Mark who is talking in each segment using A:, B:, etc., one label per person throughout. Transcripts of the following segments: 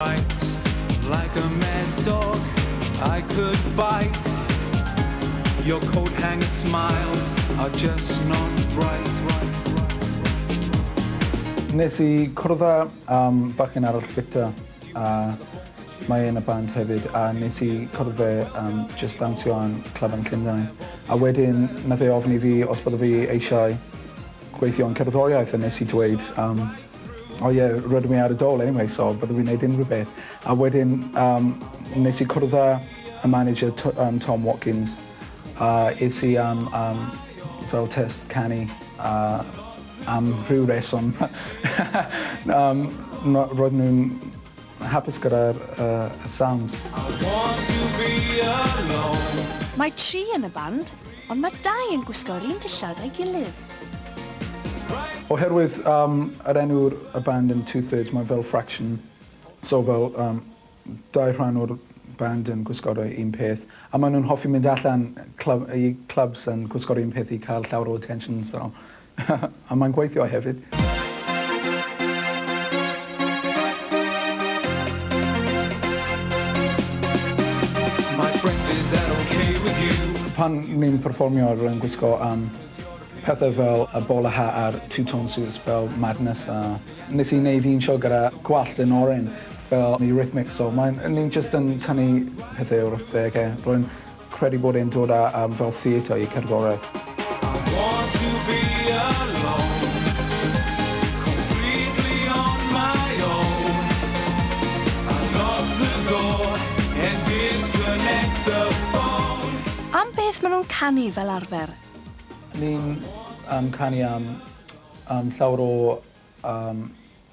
A: Like a mad dog I could bite Your coat hanger
B: smiles are just not bright Nes i cwrdd â yym bachgen arall Victor a mae e yn y band hefyd a nes i cwrdd fe yym jyst dawnsio yn Clwb yn Llundain a wedyn nath e ofyn i fi os bydda fi eisiau gweithio yn cerddoriaeth a nes i dweud yym O ie roeddwn i ar y dole anyway so byddwn i'n neud unrhyw beth. A wedyn yym nes i cwrdd â y manager T- yym Tom Watkins a es i am yym fel test canu a am rhyw reswm yym ma' roedd nw'n Mae'n hapus gyda'r y sounds.
C: Mae tri yn y band, ond mae dau yn gwisgo yr un dillad a'i gilydd. Oherwydd
B: yym yr enw y band yn two thirds mae fel fraction so fel yym dau rhan o'r band yn gwisgo'r un peth a mae nhw'n hoffi mynd allan clwb i clwbs yn gwisgo'r un peth i cael llawer o attention so A mae'n gweithio hefyd. Pan ni'n perfformio rwy'n gwisgo yym pethau fel y bol a hat a'r two-tone suits fel Madness a nes i neud un sioe gyda gwallt yn oren fel Eurythmics so mae'n... ni'n jyst yn tynnu pethau o'r wythdegau. Rwy'n Credu bod e'n dod â am fel theatr i cerddoriaeth. I want to be alone Completely on my
C: own I lock the door and disconnect the phone Am beth maen nhw'n canu fel arfer? Ni'n
B: yym canu am yym llawer o yym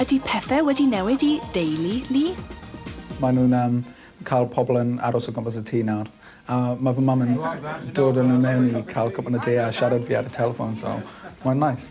A: Ydy pethe wedi
C: newid i deulu Lee? Mae nhw'n
B: yym cael pobl yn aros o gwmpas y tŷ nawr a ma' fy mam yn dod â nhw mewn i cael cwpan o de a siarad fi ar y telffon so mae'n neis.